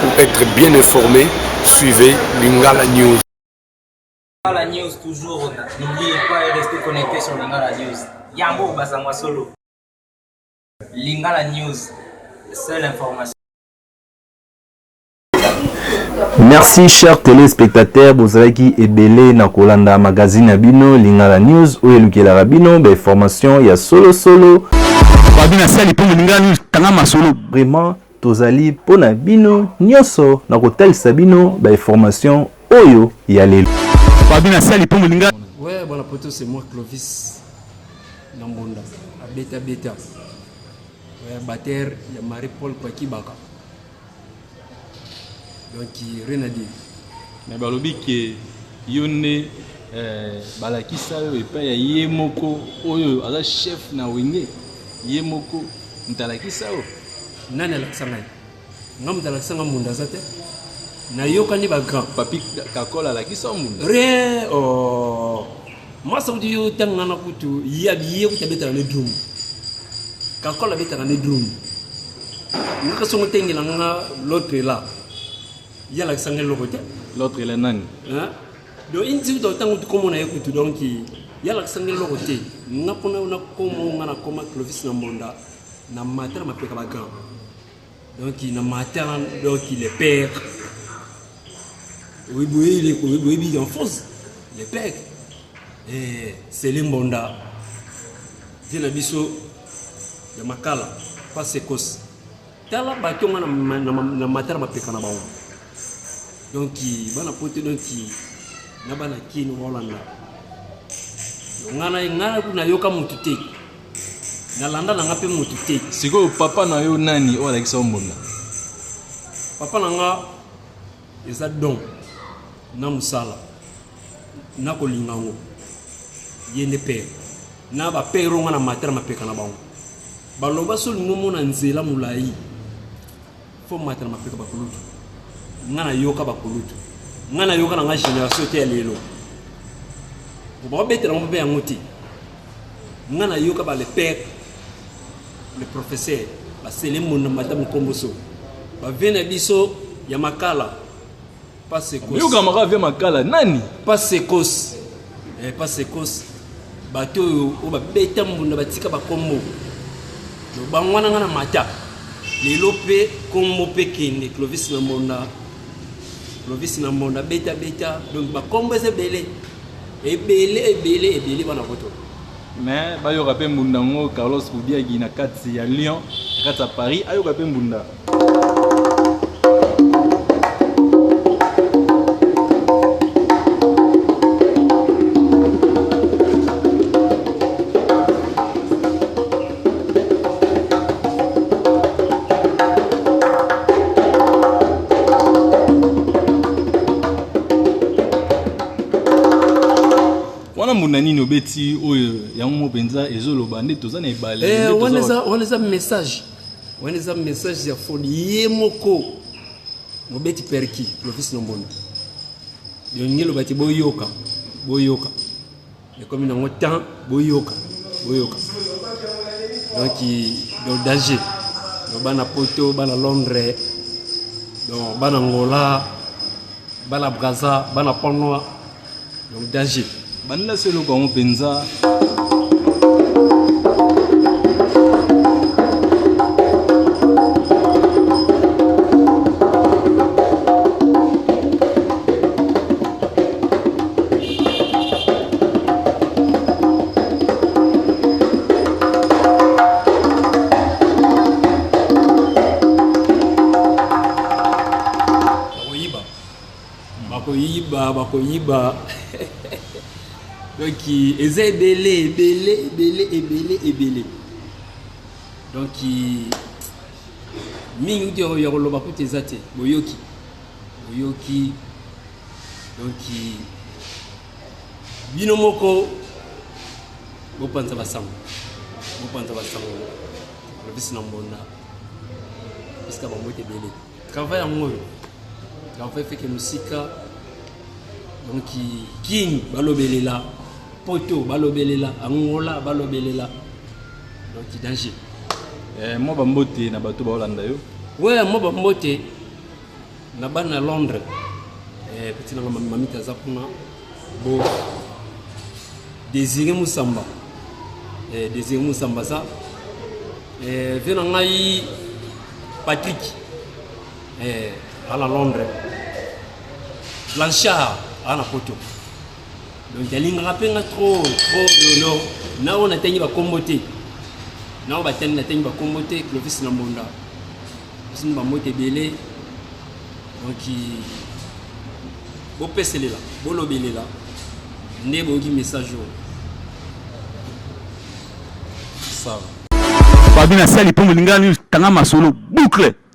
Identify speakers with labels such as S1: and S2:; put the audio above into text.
S1: Pour etre bien informe, suivez Lingala News. Lingala News toujours, n'oubliez pas
S2: et restez connectés sur Lingala News. Yango Bazangwa Solo. Lingala News, seule information.
S3: merci cher téléspectateur bozalaki ebele na kolanda magazine ya bino lingala news oyo elukelaka bino bainformation ya solosolo
S4: vraiment Tozali
S3: mpo na bino nionso na kotalisa bino ba informations oyo ya lelo. Fabi na sali
S4: mpo moninga. Ouais bwana poto c'est
S5: moi Clovis na mbonda abeta beta ouais, batteur ya Marie Paul Kwakibaka donc rien à dire Mais balobi
S6: ke yo nde eh, balakisa yo epai ya ye moko oyo aza chef na wenge ye moko moto alakisa yo nani alakisa
S5: ngai nga moto alakisa nga munda aza te nayokani bagrand papi kakola
S6: alakisa munda rien
S5: oh. mwasa kuti yo ntango nga na kutu ye abiye kuti abetaka ne drum kakola abetaka ne drum nga kasi ongo tengela nga l'autre là Ye alakisa nga eloko te. L'autre il est nani?
S6: Hein?
S5: Donc une zimi donc tango komona ye kutu donc ye alakisa nga eloko te. Nga pona na komo nga na koma Clovis na Mbonda na matala mapeka ba grand. Donc na matala donc le père. Oui, boye il est boye boye en force. Le père. Eh, c'est le Mbonda. Viens na biso ya makala pas sekos tala bato nga na matala mapeka na bango donc bana poto donc na bana kino baolanda ngai ngai nayoka motu te nalanda na nga mpe motu te sikoyo papa na
S6: yo nani oyo alakisa yo mbonda
S5: papa na nga Eza don na musala na kolinga ngo ye nde pere na ba pere onga na mata na mapeka na bango baloba so olingi omona nzela molai fo mata na mapeka bakulutu nga nayoka bakulutu nga nayoka na nga génération te ya lelo bakobetela ngo mpe yango te nga na yoka ba le père le professeur ba sele mona mata mukomboso ba vena biso ya makala pas secos yoka maka via makala
S6: nani pas secos
S5: eh pas secos bato oyo oyo babeta mbunda batika bakombo bango wana nga na mata lelo mpe kombo mpe kende clovis na mbonda clovis na mbonda beta beta donc bakombo eza ebele ebele ebele ebele bana poto mais
S6: bayoka mpe mbunda yango carlos bubiagi na kati ya lyon na kati ya paris ayoka mpe mbunda wana mbunda nini obeti oyo yango mo mpenza ezoloba nde toza na ebale eh, wana eza
S5: message wana eza message ya foni ye moko mobeti perki profesi na mbunda elingi eloba te boyoka boyoka ekomi nango temps boyoka boyoka donc donc danger donc bana poto bana londres donc bana ngola bana braza bana panoa donc danger balela so eloko
S6: yango mpenza
S5: bakoyiba bakoyiba donc eza ebele ebele ebele ebele ebele donc mingi uti ya koloba kutu eza te boyoki boyoki donc bino moko bopanza basango bopanza basango lobisi na mbonda esika bambote ebele travail yango oyo travail feke mosika donc king balobelela poto balobelela angola balobelela donc danger eh, mwa
S6: bambote na bato baolanda yo we mwa bambote
S5: na bana na londres eh, petit nanga mamita aza kuna bo désiré mosamba eh, désiré mosamba aza eh, vie na ngai patrick eh, a na londres blanchard a na poto donc alingaka mpe nga trop trop lolo na oyo natangi bakombo te na oyo batangi natangi bakombo te clovis na mbonda Pesi mwa mbote ebele oki bopeselela bolobelela nde boyoki message oyo
S4: sawa babi na sali mpo molingani tanga masolo boucle